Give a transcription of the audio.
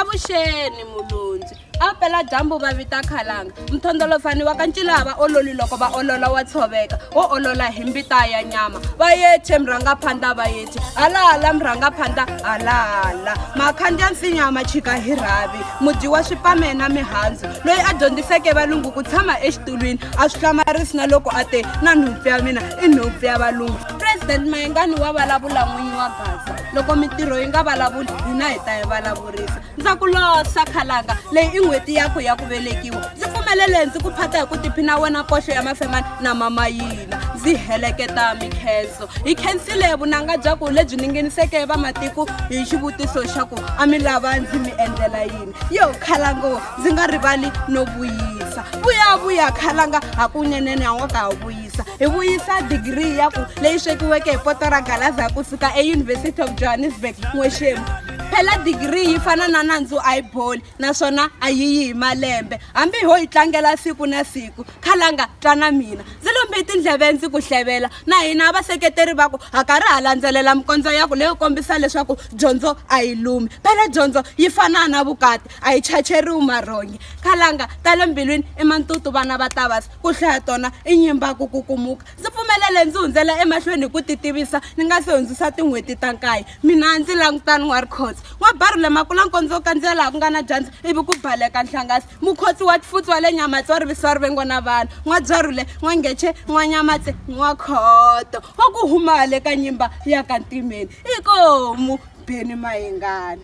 avuxeni mulundzi a pela dyambu va vita khalanga mthondolofani wa ka ncilaa va ololi loko va olola wa tshoveka wo olola hi mbita ya nyama va yeche mrhanga phanda va yeche halahala mrhanga phanda halahala makhandya nsinya ma chika hi rhavi mudyi wa swipame na mihandzu loyi a dyondziseke valungu ku tshama exitulwini a swi hlamarisi na loko a te na nhupfu ya mina i nhupfu ya valungu president mayengani wa vulavula n'winyi wa gaza loko mintirho yi nga vulavuli hina hi ta yi vulavurisa ndza ku losa khalanga leyi i n'hweti yakho ya ku velekiwa ndzi pfumelele ndzi ku phata hi ku tiphina wena koxo ya mafemani na mama yina ndzi heleketa mikhenso hi khensile vunanga bya ku lebyi ningeniseke vamatiko hi xivutiso xa ku a mi lava ndzi mi endlela yini yo khalango ndzi nga rivali no vuyisa vuyavuya khalanga hakunenene a nga ka ha vuyi hi vuyisa digiri ya ku leyi swekiweke hi poto ra galaza ku suka euniversity of johannesburg n'wexemu phela digiri yi fana na nandzu a yi boli naswona a yi yi hi malembe hambi ho yi tlangela siku na siku khalanga twa na mina ndzi lombe tindleve ndzi ku hlevela na hina vaseketeri va ku ha karhi ha landzelela mikondzo ya ku leyo kombisa leswaku dyondzo a yi lumi phela dyondzo yi fana na vukati a yi chacheriwi marhongi khalanga ta le mbilwini i mantutu vana va tavasi Ku hlaya tona i nyimba ku kukumuka. Ndzi pfumelele ndzi hundzela emahlweni hi ku titivisa ni nga si hundzisa tin'hweti ta nkaye. Mina ndzi langutani N'warikhozi. N'wabarule Makulankondzo u kandziya laha ku nga na dyandza ivi ku baleka nhlangasi. Mukhotsi wa Tfutsu wa le Nyamatse wa rivisiwa rivengo na vanhu. N'wabyarule, N'wangece, N'wanyamatse, N'wakhoto wa ku huma hale ka nyimba ya ka Ntimeni. Ikomu, Beni Mayengani.